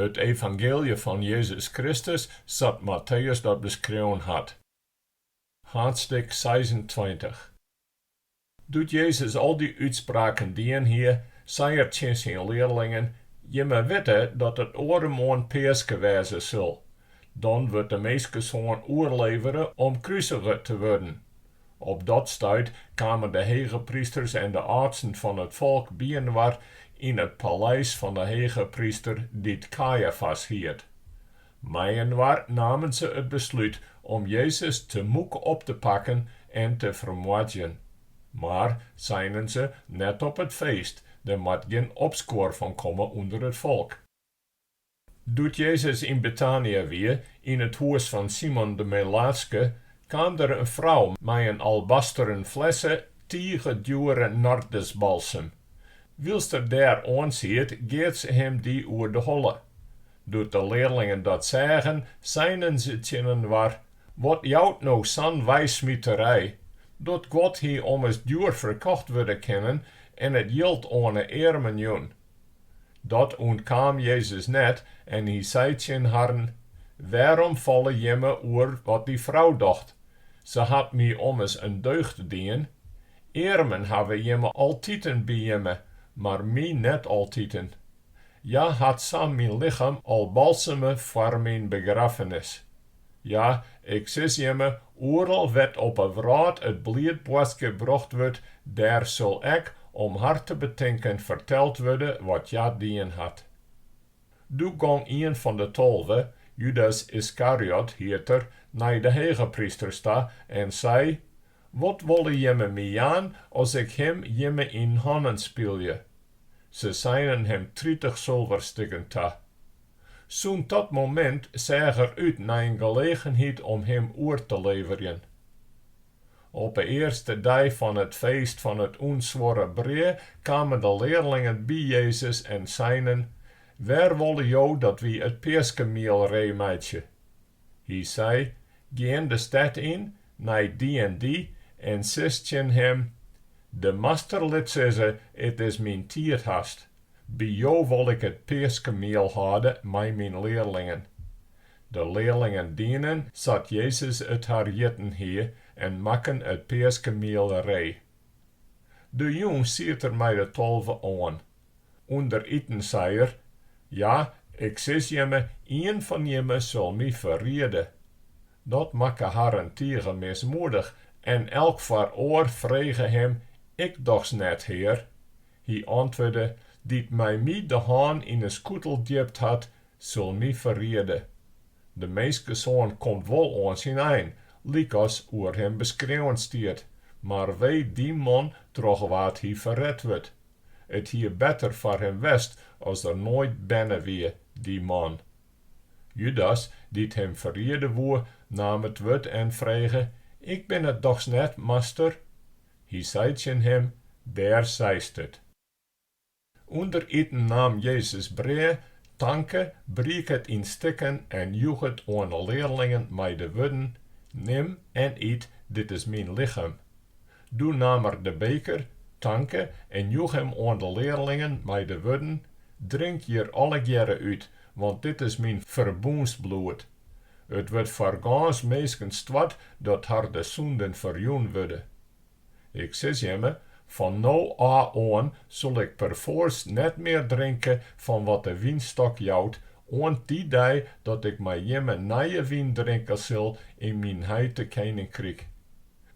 It evangeelje fan Jezus Kristus sa't Matteüs dat beskreaun hat. Haadstik seisentweintich. Doe't Jezus al dy útspraken dien hie, sei er tsjin syn learlingen, Jimme witte dat it oaremoarn Peaske wêze sil. Dan wurdt de Minskesoan oerlevere om krusige te wurden. Op dat stuit kamen de hegeprysters en de âldsten fan it folk byinoar yn it paleis fan de hegepryster dy't Kajafas hiet. Mei-inoar namen se it beslút om Jezus te moek op te pakken en te fermoardzjen. Mar, seinen se, net op it feest, der moat gjin opskuor fan komme ûnder it folk. Doe't Jezus yn Betania wie, yn it hûs fan Simon de Melaatske, kaam der in frou mei in albasteren flesse tige djoere nardusbalsem. Wylst er dêr oansiet, geat se him dy oer de holle. Doe't de learlingen dat seagen, seinen se tsjininoar, Wat jout no sa'n weismiterij, dat guod hie ommers djoer ferkocht wurde kinnen en it jild oan 'e earmen jûn? Dat ûntkaam Jezus net en hy sei tsjin harren, Wêrom falle jimme oer wat dy frou docht? Se hat my ommers in deugd dien. Earmen hawwe jimme altiten by jimme, mar my net altiten. Hja hat sa myn lichem al balseme foar myn begraffenis. Ja, ik sis jimme, oeral wêr't op 'e wrâld it bliidboadskip brocht wurdt, dêr sil ek, om har te betinken, ferteld wurde wat hja dien hat. Doe gong ien fan de tolve, Judas Iskariot hiet er, nei de hegeprysters ta en sei, Wat wolle jimme my jaan as ik him jimme yn hannen spylje? Se seinen him tritich sulverstikken ta. Sûnt dat momint seach er út nei in gelegenheid om him oer te leverjen. Op 'e earste dei fan it feest fan it ûnsuorre brea kamen de learlingen by Jezus en seinen, Wêr wolle jo dat wy it peaskemiel ree meitsje? Hy sei, Gean de stêd yn nei dy en dy en sis tsjin him, De Master lit sizze, It is myn tiid hast. By jo wol ik it peaskemiel hâlde mei myn learlingen. De learlingen dienen sa't Jezus it har hjitten hie en makken it peaskemiel ree. De jûn siet er mei de tolve oan. Under iten sei er, Ja, ik sis jimme, ien fan jimme sil my ferriede. Dat makke harren tige mismoedich en elk foar oar frege him, Ik dochs net, Hear. Hy antwurde, Dy't mei my de hân yn 'e skûtel djipt hat, sil my ferriede. De Minskesoan komt wol oan syn ein, lykas oer him beskreaun stiet, mar wee dy man troch wa't hy ferret wurdt. It hie better foar him west as er noait berne wie, dy man. Judas, dy't him ferriede woe, naam it wurd en frege, Ik bin it dochs net, Master? Hy sei tsjin him, Dêr seist it. Under it iten naam Jezus brea, tanke, briek it yn stikken en joech it oan 'e learlingen mei de wurden, Nim en yt, dit is myn lichem. Doe naam er de beker, tanke en joech him oan 'e learlingen mei de wurden, Drink hjir allegearre út, want dit is myn ferbûnsbloed, dat wurdt foar gâns minsken stoart dat har de sûnden ferjûn wurde. Ik sis jimme, Fan no ôf oan sil ik perfoarst net mear drinke fan wat de wynstok jout, oant dy dei dat ik mei jimme nije wyn drinke sil yn myn heite keninkryk.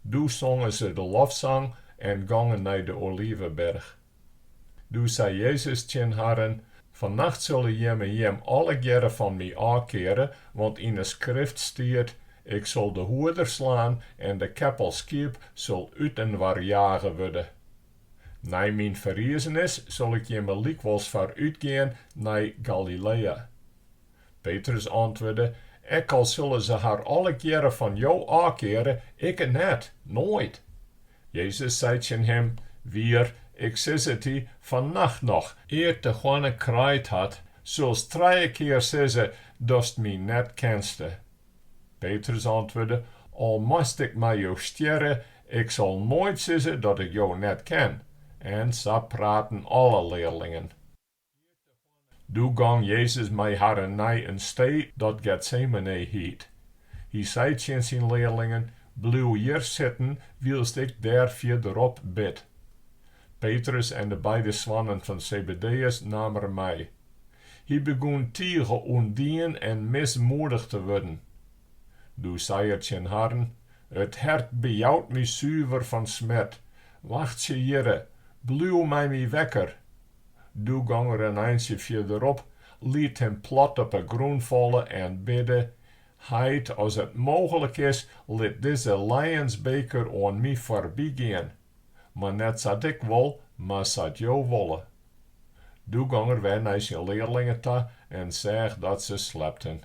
Doe songen se de lofsang en gongen nei de Oliveberch. Doe sei Jezus tsjin harren, Fannacht sulle jimme jim allegearre fan my ôfkeare, want yn 'e Skrift stiet, Ik sil de hoeder slaan en de keppel skiep sil útinoar jage wurde. Nei myn ferrizenis sil ik jimme lykwols foarútgean nei Galilea. Petrus antwurde, Ek al sille se har allegearre fan jo ôfkeare, ikke net, noait. Jezus sei tsjin him, Wier, ik sis it dy, fannacht noch, ear't de hoanne kraaid hat, sulst trije kear sizze datst my net kenste. Petrus antwurde, Al moast ik mei jo stjerre, ik sil noait sizze dat ik jo net ken. En sa praten alle learlingen. Doe gong Jezus mei harren nei in stee dat Getsemane hjit. Hy sei tsjin syn learlingen, Bliuw hjir sitten wylst ik dêr fierderop bid. Petrus en de beide soannen fan Sebedeüs naam er mei. Hy begûn tige oandien en mismoedich te wurden. Doe sei er tsjin harren, It hert bejout my suver fan smert. Wachtsje hjirre, bliuw mei my wekker. Doe gong er in eintsje fierderop, liet him plat op 'e grûn falle en bidde, Heit, as it mooglik is, lit dizze lijensbeker oan my foarbygean. Mar net sa't ik wol, mar sa't Jo wolle. Doe gong er wer nei syn learlingen ta en seach dat se slepten.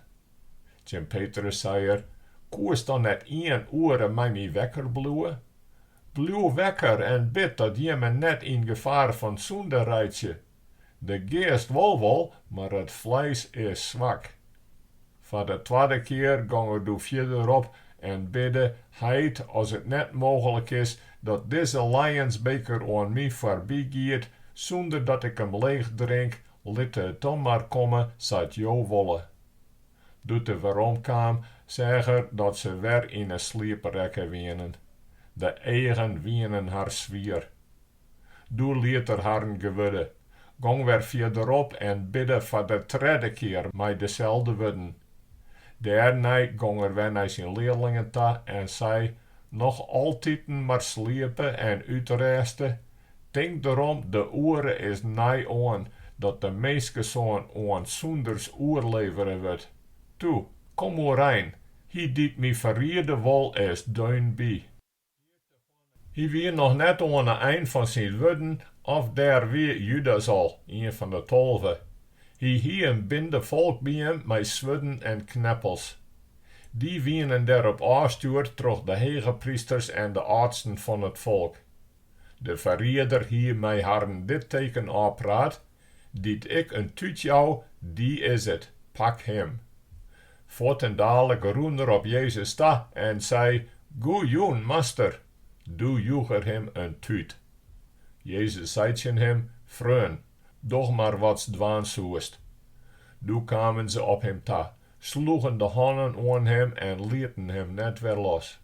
Tsjin Petrus sei er, Koest dan net ien oere mei my wekker bliuwe? Bliuw wekker en bid dat jimme net yn gefaar fan sûnde reitsje. De geast wol wol, mar it fleis is swak. Foar de twadde kear gong er doe fierderop en bidde, Heit, as it net mooglik is, dat dizze lijensbeker oan my foarby giet, sûnder dat ik him leech drink, lit it dan mar komme sa't Jo wolle. Doe't er werom kaam, seach er dat se wer yn 'e sliep rekke wienen. De eagen wienen har swier. Doe liet er harren gewurde, gong wer fierderop en bidde foar de tredde kear mei deselde wurden. Dêrnei gong er wer nei syn learlingen ta en sei, noch altiten mar sliepe en útrêste, Tink derom, de oere is nei-oan dat de minskesoan oan sûnders oerlevere wurdt. Toe, kom oerein, hy dy't my ferriede wol is deun by. Hy wie noch net oan 'e ein fan syn wurden of dêr wie Judas al, ien fan 'e tolve. Hy hie in binde folk by him mei swurden en kneppels. Dy wienen derop ôfstjoerd troch de hegeprysters en de âldsten fan it folk. De ferrierder hie mei harren dit teken ôfpraat, dy't ik in tút jou, dy is it, pak him. Fuortendaliks rûn er op Jezus ta en sei, Goe jûn, Master! Doe joech er him in tút. Jezus sei tsjin him, Freon, doch mar watst dwaan soest. Doe kamen se op him ta, sloegen de hannen oan him en lieten him net wer los.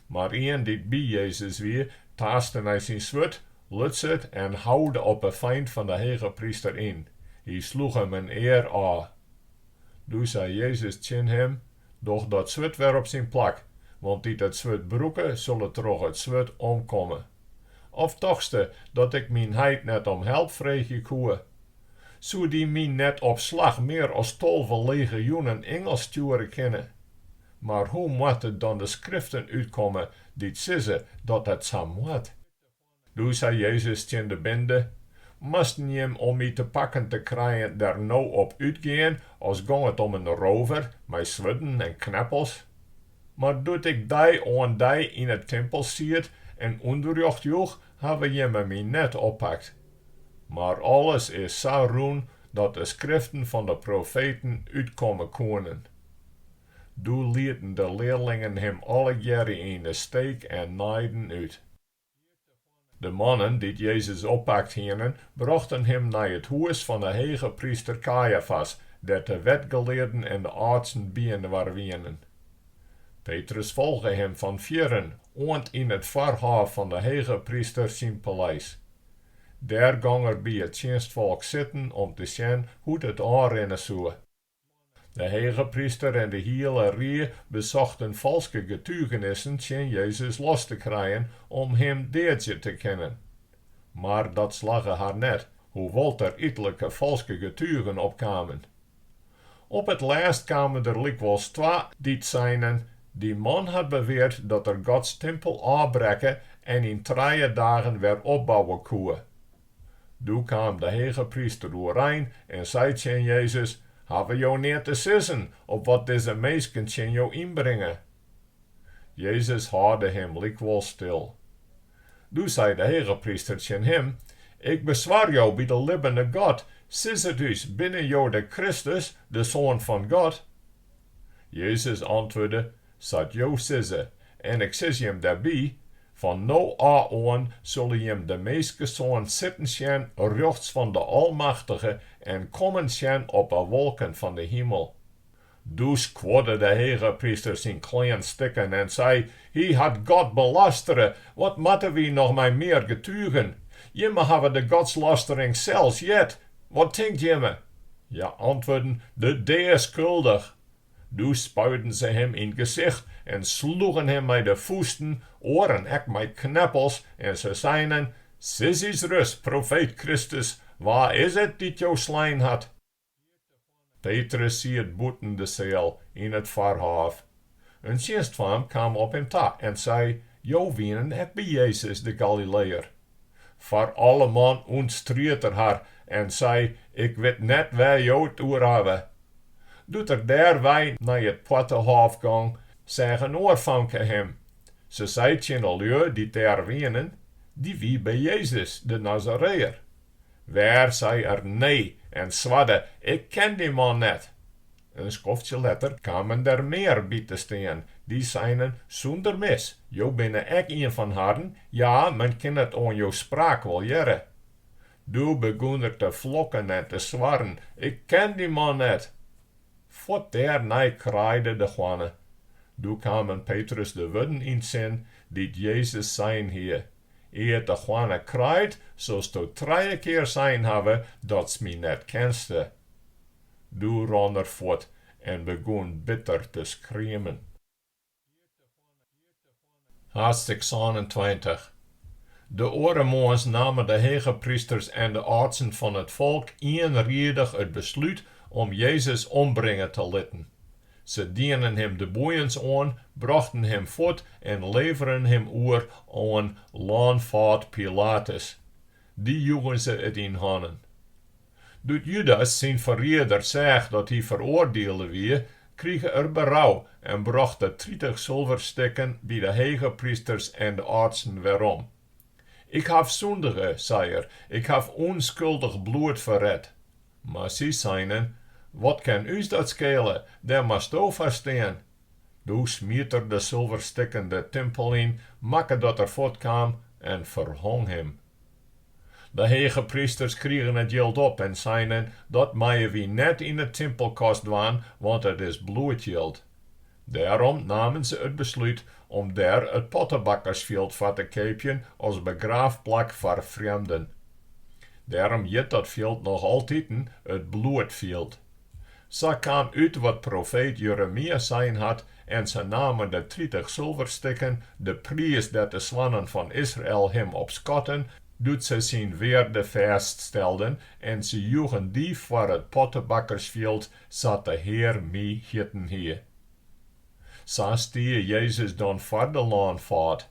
Mar ien dy't by Jezus wie, taaste nei syn swurd, lutse it en houde op 'e feint fan 'e hege pryster yn. Hy sloech him in ear ôf. Doe sei Jezus tsjin him, Doch dat swurd wer op syn plak, want dy't it swurd brûke, sille troch it swurd omkomme. Of tochtste dat ik myn heit net om help freegje koe? Soe dy my net op slach mear as tolve legioenen ingels stjoere kinne? Mar hoe moatte dan de skriften útkomme dy't sizze dat it sa moat? Doe sei Jezus tsjin de binde, Moasten jim om my te pakken te krijen der no op útgean, as gong it om in rover, mei swurden en kneppels? Mar doe't ik dei oan dei yn 't timpel siet en ûnderrjocht joech, hawwe jimme my net oppakt. Mar alles is sa rûn dat de skriften fan de profeten útkomme koenen. Doe lieten de learlingen him allegearre yn de steek en naaiden út. De mannen dy't Jezus oppakt hienen, brochten him nei it hûs fan 'e hegepryster Kajafas, dêr't de wetgelearden en de âldsten byinoar wienen. Petrus folge him fan fjirren oant yn it foarhôf fan 'e hegepryster syn paleis. Dêr gong er by it tsjinstfolk sitten om te sjen hoe't it ôfrinne soe. De hegepryster en de hiele rie besochten falske getugenissen tsjin Jezus los te krijen om Him deadzje te kinnen. Mar dat slagge har net, hoewol't der ettelike falske getugen opkamen. Op it lêst kamen der lykwols twa dy't seinen, Dy man hat beweard dat er Gods timpel ôfbrekke en yn trije dagen wer opbouwe koe. Doe kaam de hegepryster oerein en sei tsjin Jezus, Hawwe jo neat te sizzen op wat dizze minsken tsjin jo ynbringe? Jezus hâlde him lykwols stil. Doe sei de hegepryster tsjin him, Ik beswar jo by de libbene God, sis it ús, binne jo de Kristus, de Soan fan God? Jezus antwurde, Sa't jo sizze, en ik sis jim dêrby, Fan no ôf oan solle jim de Minskesoan sitten sjen rjochts fan de Almachtige en kommen sjen op 'e wolken fan de himel. Doe skuorde de hegepryster syn klean stikken en sei, Hy hat God belastere, wat moatte wy noch mei mear getugen? Jimme hawwe de godslastering sels heard, wat tinkt jimme? Hja antwurden, De dea skuldich! Doe spuiden se him yn 't gesicht en sloegen him mei de fûsten, oaren ek mei kneppels, en se seinen, Sis ús ris, profeet Kristus, wa is it dy't jo slein hat? Petrus siet bûten de seal, yn it foarhôf. In tsjinstfaam kaam op him ta en sei, Jo wienen ek by Jezus de Galileër. Foar alleman ûntstried er har en sei, Ik wit net wêr jo 't oer hawwe. Doe't er dêrwei nei it poartehôf gong, seach in oar famke him. Se sei tsjin 'e lju dy't dêr wienen, Dy wie by Jezus, de Nazareër. Wer sei er nee en swarde, Ik ken dy man net. In skoftsje letter kamen der mear by te stean. Dy seinen, Sûnder mis, jo binne ek ien fan harren, ja, men kin it oan jo spraak wol hearre. Doe begûn er te flokken en te swarren, Ik ken dy man net! Fuort dêrnei kraaide de hoanne. Doe kamen Petrus de wurden yn 't sin dy't Jezus sein hie, Ear't de hoanne kraait, solsto trije kear sein hawwe datst my net kenste. Doe ran er fuort en begûn bitter te skriemen. Haadstik sânentweintich. De oare moarns namen de hegeprysters en de âldsten fan it folk ienriedich it beslút om Jezus ombringe te litten. Se dienen him de boeiens oan, brochten him fuort en leveren him oer oan lânfâd Pilatus. Dy joegen se it yn hannen. Doe't Judas syn ferrieder seach dat hy feroardiele wie, krige er berou en brocht de tritich sulverstikken by de hegeprysters en de âldsten werom. Ik haw sûndige, sei er, ik haw ûnskuldich bloed ferret. Mar sy seinen, Wat kin ús dat skele, dêr moatsto foar stean. Doe smiet er de sulverstikken de timpel yn, makke dat er fuortkaam en ferhong him. De hegeprysters krigen it jild op en seinen, Dat meie wy net yn 'e timpelkast dwaan, want it is bloedjild. Dêrom namen se it beslút om dêr it pottebakkersfjild foar te keapjen as begraafplak foar frjemden. Dêrom hjit dat fjild noch altiten it bloedfjild. Sa kaam út wat profeet Jeremia sein hat, En se namen de tritich sulverstikken, de priis dêr't de soannen fan Israel him op skatten, doe't se syn wearde fêststelden, en se joegen dy foar it pottebakkersfjild, sa't de Hear my hjitten hie. Sa stie Jezus dan foar de lânfâd.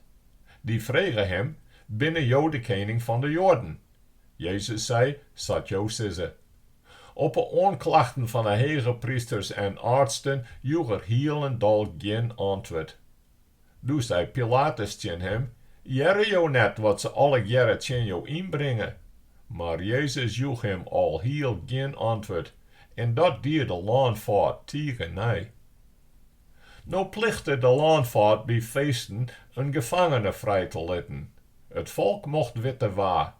Dy frege him, Binne jo de kening fan de Joaden? Jezus sei, Sa't jo sizze. Op 'e oanklachten fan 'e hegeprysters en âldsten joech er hielendal gjin antwurd. Doe sei Pilatus tsjin him, Hearre jo net wat se allegearre tsjin jo ynbringe? Mar Jezus joech him alhiel gjin antwurd, en dat die de lânfâd tige nij. No plichte de lânfâd by feesten in gefangene frij te litten. It folk mocht witte wa.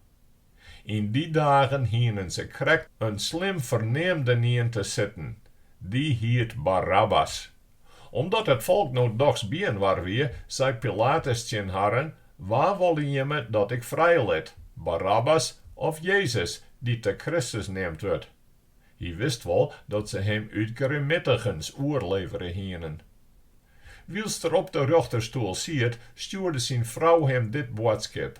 Yn dy dagen hienen se krekt in slim ferneamdenien te sitten, dy hiet Barabbas. Omdat it folk no dochs byinoar wie, sei Pilatus tsjin harren, Wa wolle jimme dat ik frijlit, Barabbas of Jezus, dy't de Kristus neamd wurdt? Hy wist wol dat se him út grimmitigens oerlevere hienen. Wylst er op de rjochterstoel siet, stjoerde syn frou him dit boadskip,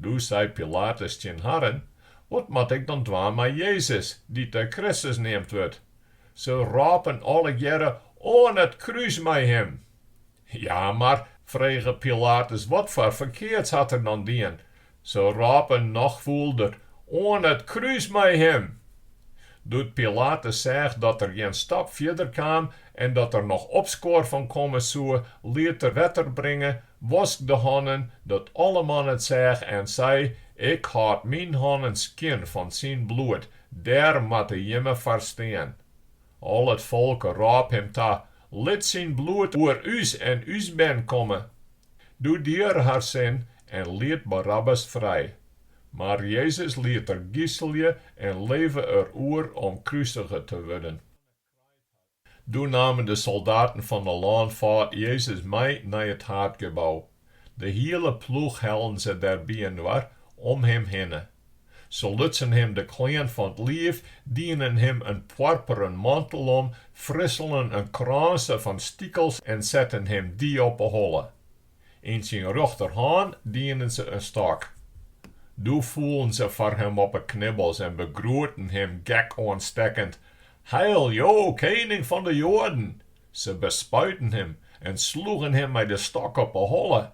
Doe sei Pilatus tsjin harren, Wat moat ik dan dwaan mei Jezus, dy't de Kristus neamd wurdt? Se rôpen allegearre, Oan it krús mei him! Ja, mar, frege Pilatus, watfoar ferkeards hat er dan dien? Se rôpen noch fûlder, Oan it krús mei him! Doe't Pilatus seach dat er gjin stap fierder kaam en dat der noch opskuor fan komme soe, liet er wetter bringe, wosk de hannen, dat alleman it seach en sei, Ik hâld myn hannen skjin fan syn bloed, dêr moatte jimme foar stean. Al it folk rôp him ta, Lit syn bloed oer ús en ús bern komme! Doe die er har sin en liet Barabbas frij. Mar Jezus liet er giselje en levere er oer om krusige te wurden. Doe namen de soldaten fan de lânfâd Jezus mei nei it haadgebou. De hiele ploech hellen se dêr byinoar om him hinne. Se lutsen him de klean fan 't liif, dienen him in poarperen mantel om, frisselen in krânse fan stikels en setten him dy op 'e holle. Yn syn rjochterhân dienen se in stôk. Doe foelen se foar him op 'e knibbels en begroeten him gekoanstekkend, Heil jo, kening fan de Joaden! Se bespuiten him en sloegen him mei de stôk op 'e holle.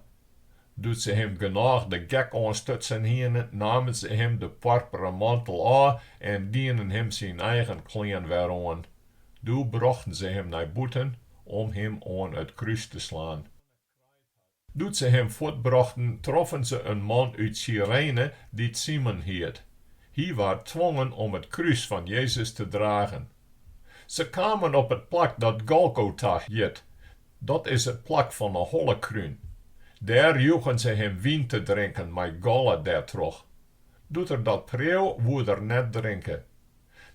Doe't se him genôch de gek oanstutsen hienen, namen se him de poarperen mantel ôf en dienen him syn eigen klean wer oan. Doe brochten se him nei bûten om him oan it krús te slaan. Doe't se him fuortbrochten, troffen se in man út Syrene dy't Simon hiet. Hy waard twongen om it krús fan Jezus te dragen. Se kamen op it plak dat Golgota hjit, dat is it plak fan 'e hollekrún. Dêr joegen se him wyn te drinken mei galle dêrtroch. Doe't er dat preau, woe er net drinke.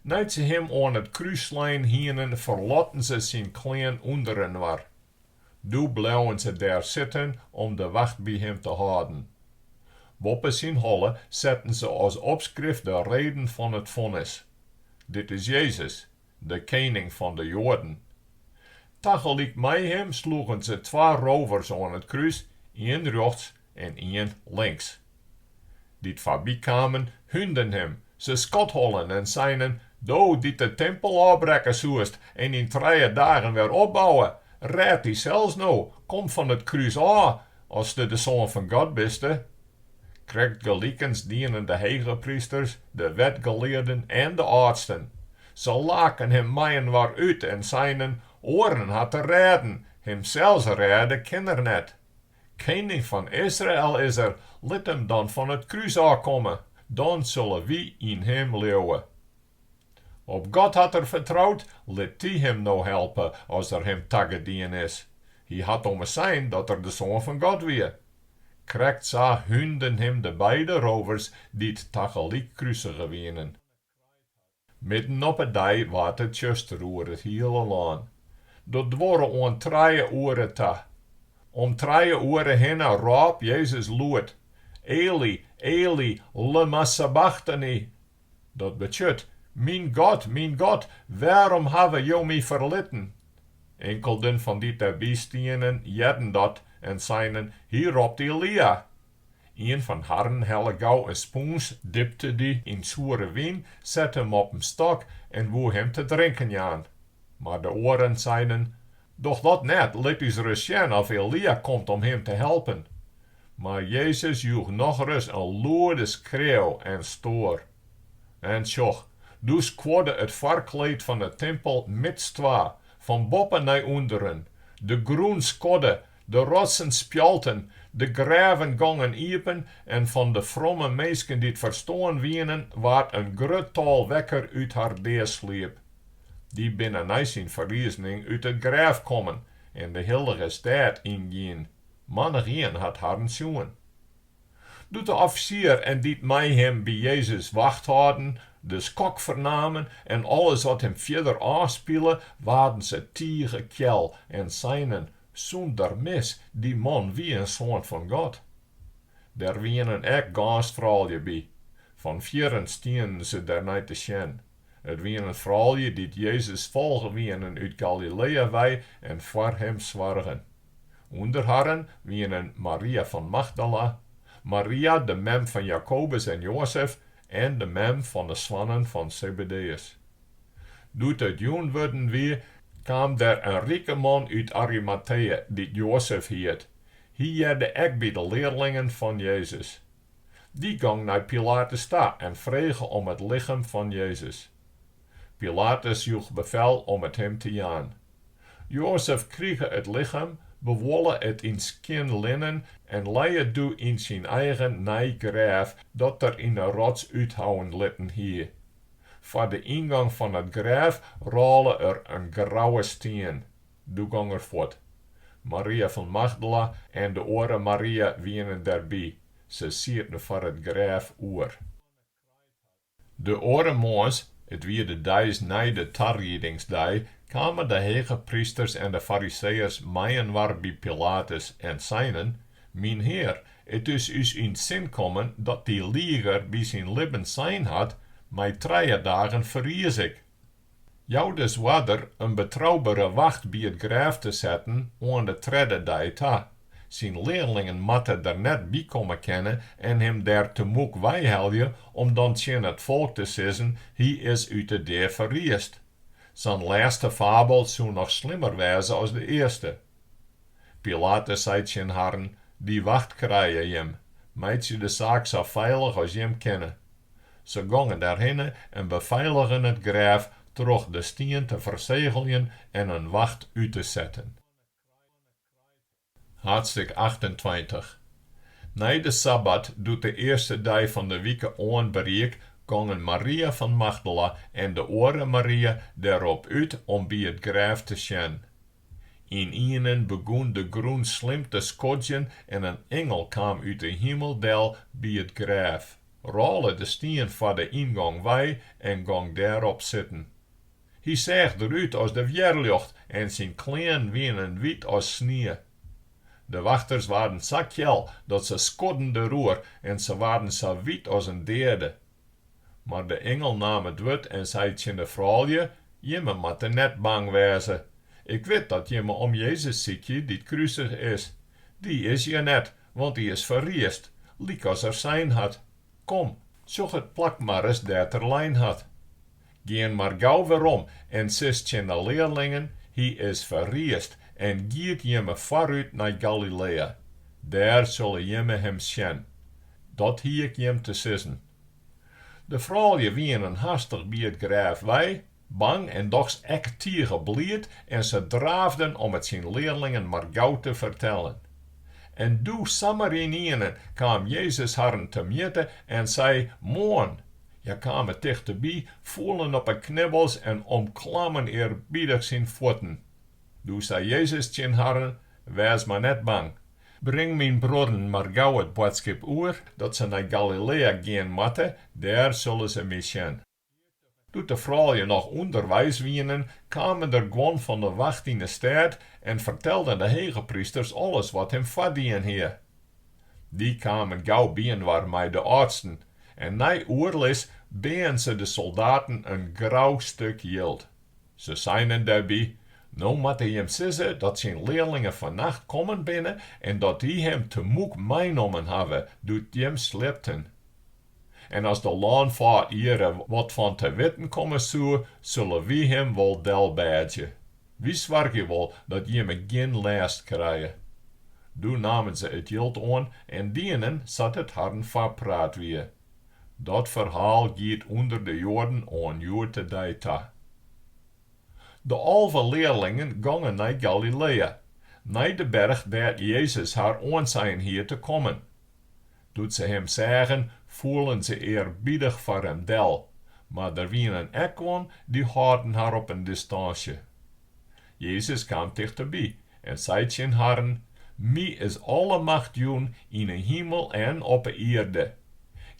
Nei't se him oan it krús slein hienen, ferlotten se syn klean ûnderinoar. Doe bleauen se dêr sitten om de wacht by him te hâlden. Boppe syn holle setten se as opskrift de reden fan it fonnis, Dit is Jezus, de Kening fan de Joaden. Tagelyk mei him sloegen se twa rovers oan it krús, ien rjochts en ien links. Dy't foarby kamen, húnden him, se skothollen en seinen, Do dy't de timpel ôfbrekke soest en yn trije dagen wer opbouwe, rêd dysels no, kom fan it krús ôf, aste de Soan fan God biste. Krekt gelikens dienen de hegeprysters, de wetgelearden en de âldsten. Se laken him mei-inoar út en seinen, Oaren hat er rêden, himsels rêde kin er net. Kening fan Israel is er, lit him dan fan it krús ôf komme, dan sulle wy yn him leauwe. Op God hat er fertroud, lit dy him no helpe, as er him tagedien is. Hy hat ommers sein dat er de Soan fan God wie. Krekt sa húnden him de beide rovers dy't tagelyk krusige wienen. Midden op 'e dei waard it tsjuster oer it hiele lân. Dat duorre oant trije oere ta. Om trije oere hinne rôp Jezus lûd, Eli, Eli, lemma sabachtani? Dat betsjut, Myn God, myn God, wêrom hawwe Jo My ferlitten? Inkelden fan dy dêrby stienen hearden dat en seinen, Hy ropt Elia! Ien fan harren helle gau in spûns, dipte dy yn soere wyn, sette him op in stok en woe him te drinken jaan. Mar de oaren seinen, Doch dat net, lit ús ris sjen oft Elia komt om him te helpen. Mar Jezus joech nochris in lûde skreau en stoar. En sjoch, doe skuorde it foarkleed fan 'e timpel midstwa, fan boppe nei ûnderen, de grûn skodde De rotsen spjalten, de grêven gongen iepen en fan de fromme minsken dy't ferstoarn wienen, waard in grut tal wekker út har deasliep. Dy binne nei syn ferrizening út it grêf kommen en de hillige stêd yngien. Mannich-ien hat harren sjoen. Doe't de offisier en dy't mei him by Jezus wacht hâlden, de skok fernamen en alles wat him fierder ôfspile, waarden se tige kjel en seinen, Sûnder mis, dy man wie in soan fan God! Der wienen ek gâns froulju by. Fan fierren stienen se der nei te sjen. It wienen froulju dy't Jezus folge wienen út Galilea wei en foar him soargen. Under harren wienen Maria fan Magdala, Maria de mem fan Jakobus en Joazef en de mem fan 'e soannen fan Sebedeus. Doe't it jûn wurden wie, kaam der in rike man út Arimatea dy't Joazef hiet. Hy hearde ek by de learlingen fan Jezus. Dy gong nei Pilatus ta en frege om it lichem fan Jezus. Pilatus joech befel om it him te jaan. Joazef krige it lichem, bewolle it yn skjin linnen en lei it doe yn syn eigen nij grêf dat er yn 'e rots úthouwen litten hie. Foar de yngong fan it grêf rôle er in grouwe stien. doe gong er fuort. Maria fan Magdala en de oare Maria wienen der by, se sieten foar it grêf oer. De oare moarns, it wie de deis nei de tariedingsdei, kamen de hegeprysters en de Fariseeërs mei-inoar by Pilatus en seinen, Myn Hear, it is ús yn 't sin kommen dat dy lieger by syn libben sein hat, Mei trije dagen ferries ik. Jou dus oarder in betroubere wacht by it grêf te setten oan de tredde dei ta. Syn learlingen moatte der net by komme kinne en him dêr temoek weihelje om dan tsjin it folk te sizzen, Hy is út de dea ferriest. Sa'n lêste fabel soe noch slimmer wêze as de earste. Pilatus sei tsjin harren, Dy wacht krije jim, meitsje de saak sa feilich as jim kinne. Se gongen dêrhinne en befeiligen it grêf troch de stien te fersegeljen en in wacht út te setten. Haadstik achtentweintich. Nei de sabbat, doe't de earste dei fan de wike oan beriek, gongen Maria fan Magdala en de oare Maria der op út om by it grêf te sjen. Ynienen begûn de grûn slim te skodzjen en in ingel kaam út de himel del by it grêf, rôle de stien foar de yngong wei en gong dêrop sitten. Hy seach derút as de wjerljocht en syn klean wienen wyt as snie. De wachters waarden sa kjel dat se skodden deroer en se waarden sa wyt as in deade. Mar de ingel naam it wurd en sei tsjin de froulju, Jimme moatte net bang wêze. Ik wit dat jimme om Jezus sykje dy't krusige is. Dy is hjir net, want dy is ferriest, lykas er sein hat. Kom, sjoch it plak mar ris dêr't er lein hat. Gean mar gau werom en sis tsjin de learlingen, Hy is ferriest en giet jimme foarút nei Galilea. Dêr sille jimme him sjen. Dat hie ik jim te sizzen. De froulju wynden hastich by it grêf wei, bang en dochs ek tige bliid en se draafden om it syn learlingen mar gau te fertellen. En doe samar ynienen kaam Jezus harren temjitte en sei, Moarn, Hja kamen tichteby, foelen op 'e knibbels en omklammen earbiedich syn fuotten. Doe sei Jezus tsjin harren, Wês mar net bang. Bring myn bruorren mar gau it boadskip oer dat se nei Galilea gean moatte, dêr sille se my sjen. Doe't de froulju noch ûnderweis wienen, kamen der guon fan de wacht yn 'e stêd en fertelden de hegeprysters alles wat him foardien hie. Dy kamen gau byinoar mei de âldsten en nei oerlis beaen se de soldaten in grou stuk jild. Se seinen dêrby, No moatte jim sizze dat syn learlingen fannacht kommen binne en dat dy him temûk meinommen hawwe doe't jim sliepten. En as de lânfâd hjirre wat fan te witten komme soe, sulle wy him wol delbêdzje. Wy soargje wol dat jimme gjin lêst krije. Doe namen se it jild oan en dienen sa't it harren foarpraat wie. Dat ferhaal giet ûnder de Joaden oan hjoed-de-dei ta. De alve learlingen gongen nei Galilea, nei de berch dêr't Jezus har oansein hie te kommen. Doe't se him seagen, foelen se earbidich foar him del, mar der wienen ek guon dy holden har op in distânsje. Jezus kaam tichterby en sei tsjin harren, My is alle macht jûn yn 'e himel en op 'e ierde.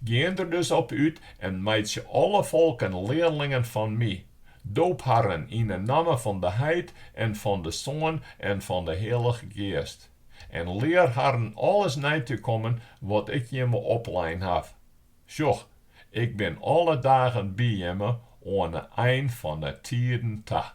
Gean der dus op út en meitsje alle folken learlingen fan My. Doop harren yn 'e namme fan de Heit en fan de Soan en fan 'e Hillige Geast. en lear harren alles nei te kommen wat Ik jimme oplein haw. Sjoch, Ik bin alle dagen by jimme oan 'e ein fan 'e tiden ta.